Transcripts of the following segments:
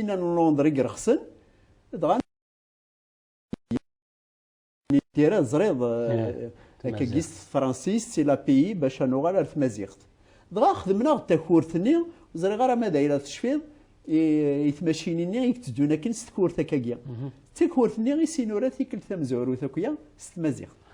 Asigna n Londres i irexsen, dɣa tira teẓriḍ akkagi s tefransist si lapiyi bac ad nuɣal ar tmaziɣt. Dɣa xedmen-aɣ takurt-nni, ur ẓriɣ ara ma d ay la tecfiḍ, i tmacinin-nni i itteddun akken s tkurt akkagi. D takurt-nni i s-inura tikkelt tamezwarut akya s tmaziɣt.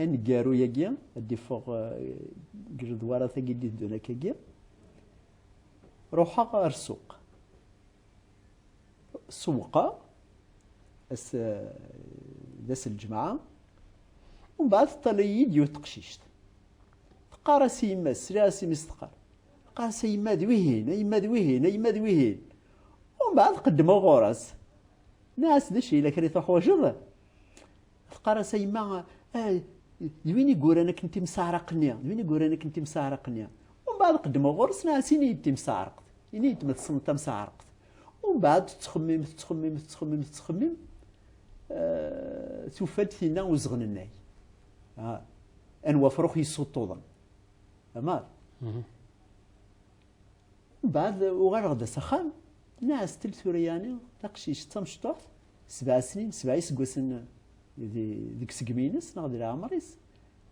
aneggaru-agi ad d-iffeɣ deg ledwarat-agi d-iddun akkagi ruḥeɣ ar ssuq sewqeɣ as d as lǧemɛa umbeɛd teṭṭal-iyi-d yiwet teqcict teqqar-as i yemma-s sliɣ-as i mmi-s teqqar teqqar-as a yemma d wihin a yemma d wihin a yemma d wihin umbeɛd qeddmeɣ ɣur-as nniɣ-as d acu yella kra i tuḥwaǧeḍ Teqqar-as a yemma, eh, d win i yuran akken timseɛraq-nni, d win i yuran akken timseɛraq-nni. Umbeɛd qeddmeɣ ɣur-s, nɛas ini-yi-d timseɛraqt, ini-yi-d ma tessneḍ tamseɛraqt. Umbeɛd tettxemmim, tettxemmim, tettxemmim, tettxemmim, eh, tufa-d tinna uzɣen-nnay. Ah, anwa afrux yessuṭṭuḍen. Amar. Mhm. Mbeɛd uɣaleɣ-d s axxam, nɛas-tel tura yaɛni taqcict d tamecṭuḥt, sebɛa snin, sebɛa iseggasen deg segmi-ines neɣ di leɛmer-is,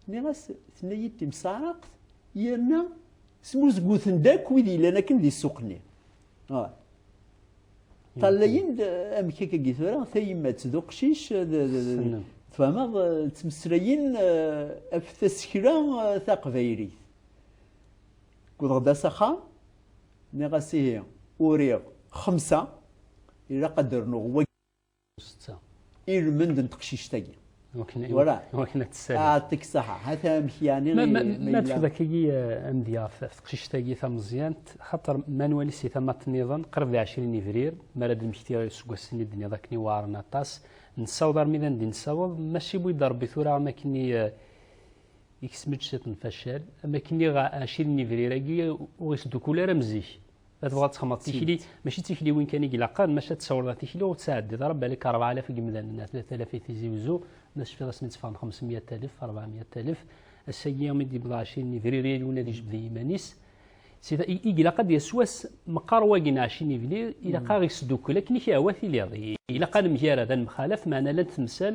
nniɣ-as, tenna-yi-d timseɛraqt yerna smuzguten-d akk wid yellan akken di ssuq-nni. Ṭallayen-d amek akka-agi tura tayemmat d uqcic tfehmeḍ ttmeslayen af tasekla taqbaylit. Wwḍeɣ-d s axxam, nniɣ-as ihi uriɣ xemsa, ilaq ad d-rnuɣ wagi u setta i lmend n teqcict-agi. Iwakken ad tessali. Aɛeṭṭik saḥa, hata amek yeɛni ma yella. Ma tefda kagi amedya ɣef teqcict-agi tameẓyant, xaṭer ma nwali si tamaṭ niḍen, qrib d ɛecrin ibrir, mi ara d-nmekti iseggasen i d-tenniḍ akken iwɛaren aṭas, nessaweḍ armi d anda i nessaweḍ, maca iwwi-d Rebbi tura am akken i. Iksem-d ciṭ n facal, am akken iɣ acil n ibrir-agi ur isdukul ara am zik. Ma tebɣa ad texmeḍ tikli, mačči d tikliwin kan i ilaqen, maca ad tsawreḍ ar tikli ur ttɛeddiḍ ara balak rebɛa alaf n yimdanen ar tlata alaf i tizi wezzu, ma tecfiḍ asmi tteffɣen xemsemyat alef, rebɛa myat alef, ass-agi mi d-yebḍa acil n ibrir yal win ad ijbed i yiman-is. Sida i ilaq ad d-yas wass meqqar wagi n acil n ibrir, ilaq ad ɣ-isdukkel akken i k-ihwa tiliḍ. Ilaq ad nemgarad, ad nemxalaf, meɛna llant temsal,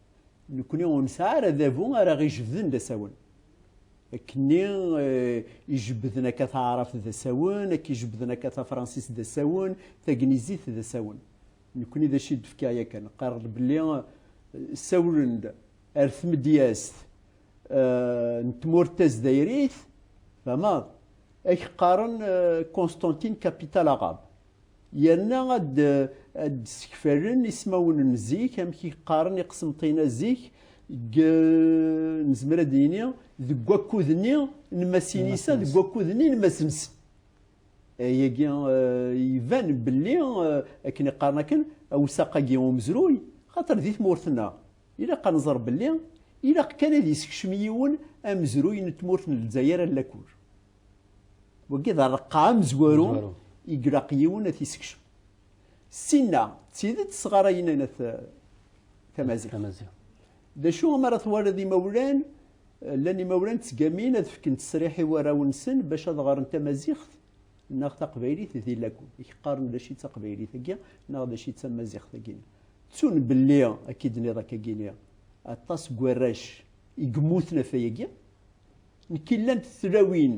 Nekkni ur nesɛi ara adabu ara ɣ-ijebbden d asawen. Akkenni eh, ijebbden akka taɛrabt d asawen, akka ijebbden akka tafransist d asawen, tagnizit d asawen. Nekkni d acu i d-fkiɣ yakan? Qqareɣ-d belli eh, sawlen-d ar tmedyazt eh, n tmurt tazdayrit, fahmeḍ? Ak qqaren Constantine capital arabe. yerna ad d-sekfalen ismawen n zik amek i qqaren iqsemṭina zik nezmer ad d-yini deg wakud-nni n Masinisa deg wakud-nni n Masensen ayagi iban belli akken iqqaren akken awsaq-agi umezruy xaṭer di tmurt-nneɣ ilaq ad nẓer belli ilaq kan ad isekcem yiwen amezruy n tmurt n Lezzayer allakur Wagi d areqqa amezwaru i ilaq yiwen ad t-isekcem. Sinna, d tidet sɣarayen ana tamaziɣt. D acu mi ara twaliḍ imawlan, llan imawlan ttgamin ad fken ttesriḥ i warraw-nsen bac ad ɣren tamaziɣt neɣ taqbaylit di lagun. I k-qqaren d acu i d taqbaylit-agi neɣ d acu i d tamaziɣt-agi. Ttun belli, akka i d-tenniḍ, akka i d-nniɣ, aṭas n warrac i yemmuten ɣef wayagi. Nekk i llant tlawin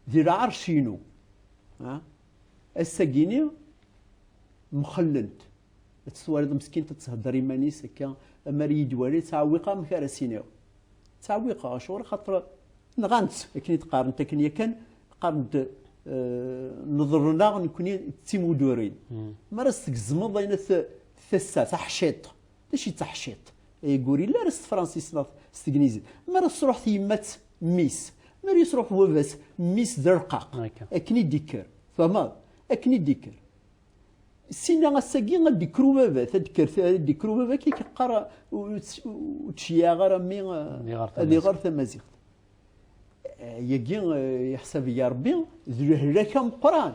di lɛerc-inu. Ass-agi-ni mxellent. Ad tt-twaliḍ meskint ad thedder iman-is akka, am ara iyi-d-wali, ttɛewwiqeɣ amek ara s-iniɣ. Ttɛewwiqeɣ, acuɣer? Axaṭer nɣan-tt, akken i d-qqarent, akken yakan qqaren-d neḍren-aɣ nekkni d timuddurin. Mi ara as-tgezmeḍ ayen, tassa taḥciṭ, Mačči d taḥciṭ ay ur yelli ara s tefransist neɣ s tegnizit. Mi ara tesruḥ tyemmat, mmi-s. Mi ara yesruḥ wabas, mmi-s d arqaq. Akken i d-ikker. Tfehmeḍ? Akken i d-ikker. Sin-a ass-agi ad d-ikker ubabat, ad d-ikker ubabat akka i k-yeqqar ur ttceyyaɛeɣ ara mmi ad iɣer tamaziɣt. Yagi yeḥsab-iyi Rebbi d lehlak ameqqran.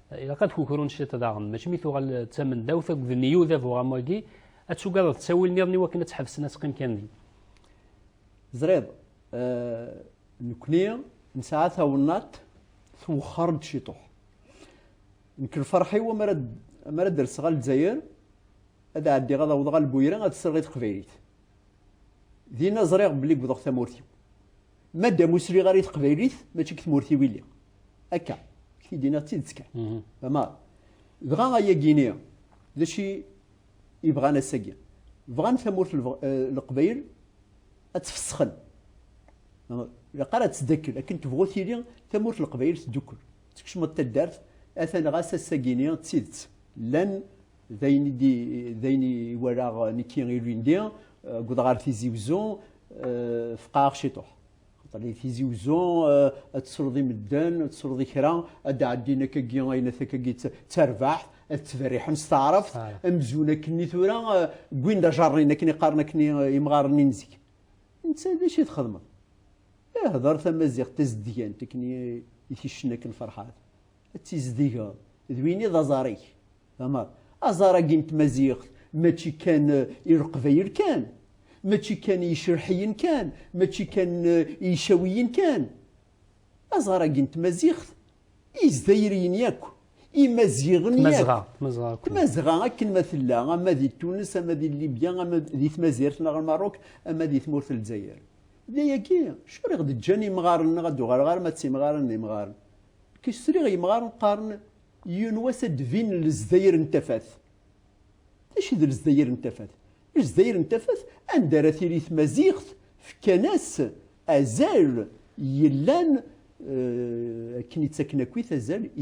ilaq ad kukrun ciṭ daɣen mačči mi tuɣal d tamendawt akked n Yuda bu ɣamwagi ad tugadeḍ ttawil niḍen iwakken ad tḥebsen ad teqqim kan di ẓriḍ nekni nesɛa tawennaṭ twexxer-d ciṭuḥ nekk lferḥ-iw amar ad derseɣ al Lezzayer ad ɛeddiɣ ad awḍeɣ al Buyra ad sreɣ i teqbaylit dinna ẓriɣ belli gwdeɣ tamurt-iw Madam ur sriɣ ara i teqbaylit, mačči deg tmurt-iw i lliɣ. Akka, k-t-id-iniɣ d tidet kan. Mhm. Tamar. Dɣa ayagi-ni, d acu i bɣan ass-agi? Bɣan tamurt n eh, Leqbayel ad tfesxen. Ilaq ara ad tdakkel, akken tebɣu tili tamurt n Leqbayel tdukkel. Tekcmeḍ taddart, atan ɣas ass-agi-ni d tidet. Llan d ayen i di d ayen i walaɣ nekki ilindi wwḍ ɣer Tizi Uzzu feqɛeɣ ciṭuḥ xaṭer di Tizi Uzzu ad tesruḍ i medden ad tesruḍ i kra ad d-ɛeddin akkagi ayen at akkagi d tarbaḥt ad ttberriḥen s taɛrabt amzun akkenni tura wwin-d ajarrin akken i qqaren akkenni imɣaren-nni n zik netta d acu i txedmeḍ ihder tamaziɣt tazedgant akken i t-icna akken ferḥat Ad tizdigeḍ d win i d aẓar-ik. Tamar, aẓar-agi n tmaziɣt mačči kan i leqbayel kan, mačči kan i yicerḥiyen kan, mačči kan i yicawiyen kan. Aẓar-agi n tmaziɣt i yizzayriyen yakk, imaziɣen yakk. Tmazɣa, tmazɣa akk. Tmazɣa akken ma tella, ama di Tunes, ama di Libya, ama di Tmazirt neɣ Lmaruk, ama di tmurt n Lezzayer. D ayagi, acuɣer i ɣ-d-ǧǧan imɣaren-nneɣ ad d-uɣaleɣ arma d timɣarin n yimɣaren? Kečč sliɣ yemɣaren qqaren yiwen wass ad d-binen Lezzayer n tafat. D acu i d Lezzayer n tafat? Lezzayer n tafat anda ara tili tmaziɣt fkan-as azal yellan akken ittaken akkit azal i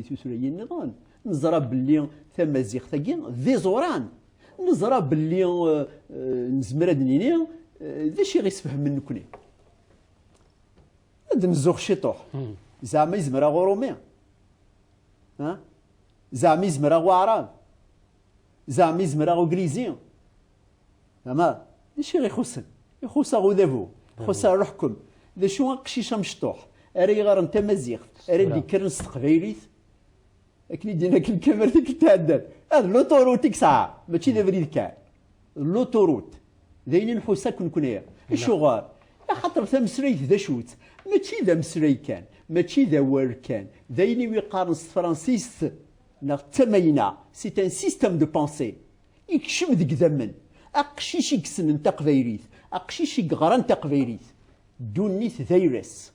tutlayin niḍen. Neẓra belli tamaziɣt-agi d iẓuran. Neẓra belli nezmer ad d-nini d acu i ɣ-isfehmen nekni. Ad d-nzuxx ciṭuḥ. Zeɛma yezmer-aɣ Urumi? Ha? Zeɛma yezmer-aɣ Waɛrab? Zeɛma yezmer-aɣ Uglizi? Ama, d acu i ɣ-ixussen? Ixuss-aɣ udabu, ixuss-aɣ leḥkem. D acu aqcic amecṭuḥ ara iɣaren tamaziɣt, ara d-yekkren s teqbaylit? akken i d-yenna akken kamar tikkelt iɛeddan ad luturut i yesɛa mačči d abrid kan luturut d ayen i nḥus akk nekkni acuɣer axaṭer tameslayt d acu-tt mačči d ameslay kan mačči d awal kan d ayen i wi-qqaren s tefransist neɣ d tamayna c'est un système de pensée ikcem deg idammen aqcic i yessnen taqbaylit aqcic i yeɣran taqbaylit ddunit d ayla-s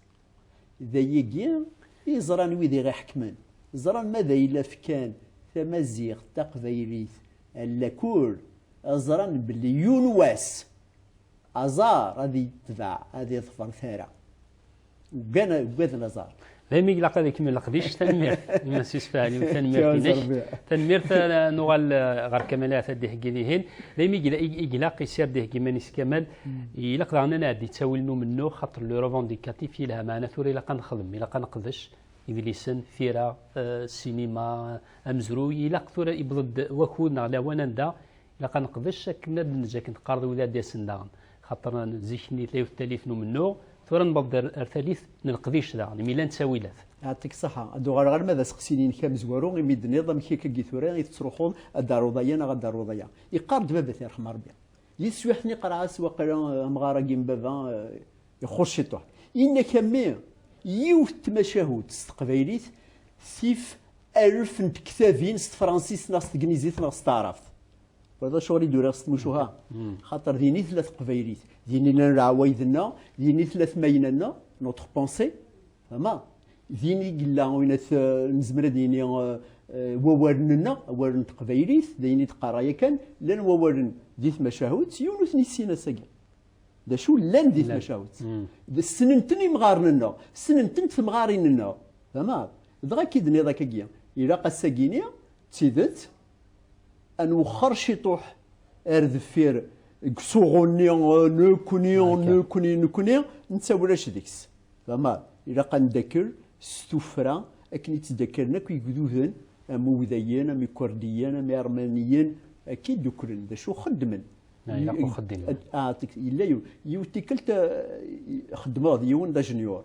D ayagi i ẓran wid i ɣ-iḥekmen, ẓran ma d ay la fkan tamaziɣt taqbaylit allakul, ẓran belli yiwen wass aẓar ad yetbeɛ, ad iḍfer tara. Uggan, uggaden aẓar. Daymi i ilaq ad ikemmel leqdic, tanemmirt i Mass Yusef Alim, tanemmirt-inek, tanemmirt ad nuɣal ɣer Kamal Ahat ad d-iheggi dihin, daymi i ilaq isir d-iheggi iman-is Kamal, ilaq daɣen ad nɛeddi ttawil n umennuɣ xaṭer le revendicatif yelha maɛna tura ilaq ad nexdem ilaq ad neqdec idlisen tira sinima amezruy ilaq tura iwweḍ-d wakud neɣ lawan anda ilaq ad neqdec akken ad neǧǧ akken teqqareḍ wid ad d-yasen daɣen xaṭer zik-nni tella yiwet talit n umennuɣ tura newweḍ-d ar talit n leqdic daɣen imi llan ttawilat Ɛaṭik ṣaḥa, ad d-uɣaleɣ arma d aseqsi-inek amezwaru imi d-tenniḍ amek akka i tura i tettruḥuḍ ad d-taruḍ aya neɣ ad d-taruḍ aya. Yeqqar-d baba-k, irḥem Rebbi. Di teswiɛt-nni iqerɛas waqila amɣar-agi n baba ixuṣ ciṭuḥ. Yenna-k a mmi, yiwet n tmacahut s teqbaylit tif alef n tektabin s tefransist neɣ s tegnizit neɣ s taɛrabt. Wa d acuɣer i d-uriɣ s tmucuha, xaṭer din i tella teqbaylit, din i llan leɛwayed-nneɣ, din i tella tmayna-nneɣ, notre pensée. Ma din i yella win at nezmer ad yini wawalen-nneɣ, awal n teqbaylit, d ayen i d-qqareɣ yakan, llan wawalen di tmacahut, yiwen ur ten-yessin ass-agi. D acu llan di tmacahut. Ssnen-ten imɣaren-nneɣ, ssnen-tent temɣarin-nneɣ. Fahmeḍ? Dɣa akka i d-nniḍ akkagi, ilaq ass-agini d tidet, An wexxer ciṭuḥ ar deffir deg usuɣu-nni nekni, nekni, nekni, netta ulac deg-s. Tama, ilaq ad neddakkel s tuffra akken i ttdakkalen akk yigduden am Uwdayen, am Ikurdiyen, am Iɛermaniyen, akka i ddukklen. D acu xeddmen? Ilaq uxeddim. Yella yiwen, yiwet tikkelt xeddmeɣ d yiwen d ajenyur.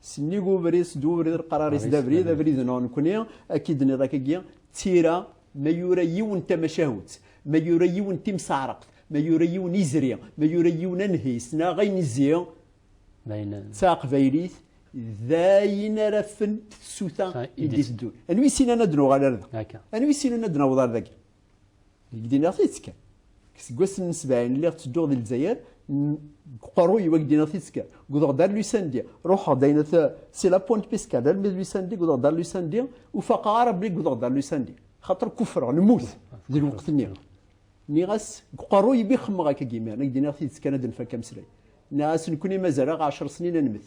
Sennig ubrid, sed ubrid lqarar is d abrid, abrid neɣ nekni, akka i d-nniḍ akka gi, tira, ma yura yiwen tamacahut, ma yura yiwen timseɛraqt, ma yura yiwen izri, ma yura yiwen anhis, neɣ ayen izzi, d taqbaylit, d ayen ara fent tsuta i d-iteddun. Anwi ssinan ad nuɣal ar da? Anwi ssinan ad naweḍ ar dagi? Deg d-iniɣ tidet kan. Seg wassen n sebɛin lliɣ ttedduɣ di Lezzayer, qerruy wag d-iniɣ tidet kan. Gudeɣ-d ar Lusandi, ruḥeɣ-d ayna si la Pointe Pescade armi d Lusandi, gudeɣ-d ar Lusandi, ur faqeɣ ara belli gudeɣ-d ar Lusandi. Xaṭer kuffreɣ, nemmut di lweqt-nni. Nniɣ-as, deg uqerruy i bi xemmeɣ akka deg imiren, ak d-iniɣ tidet kan ad nfak ameslay. Nniɣ-as, nekkni mazal-aɣ ɛecṛ snin ad nemmet.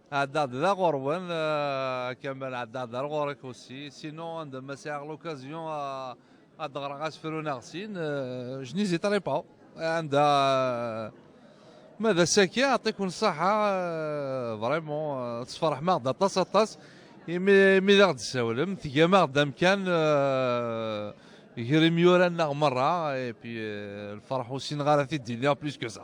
Haddad d aɣerwal Kamel Haddad ar ɣur-k aussi sinon anda ma sɛiɣ l'occasion ad ɣreɣ asefru neɣ sin je n'hésiterai pas anda ma d asaki aṭiku n ṣṣaḥa vraiment tesferḥem-aɣ-d aṭas aṭas imi imi d aɣ-d-tessawlem tgam-aɣ-d amkan gar imyura-nneɣ merra et puis lferḥ ur ssineɣ ara ad t-id-iniɣ plus que ça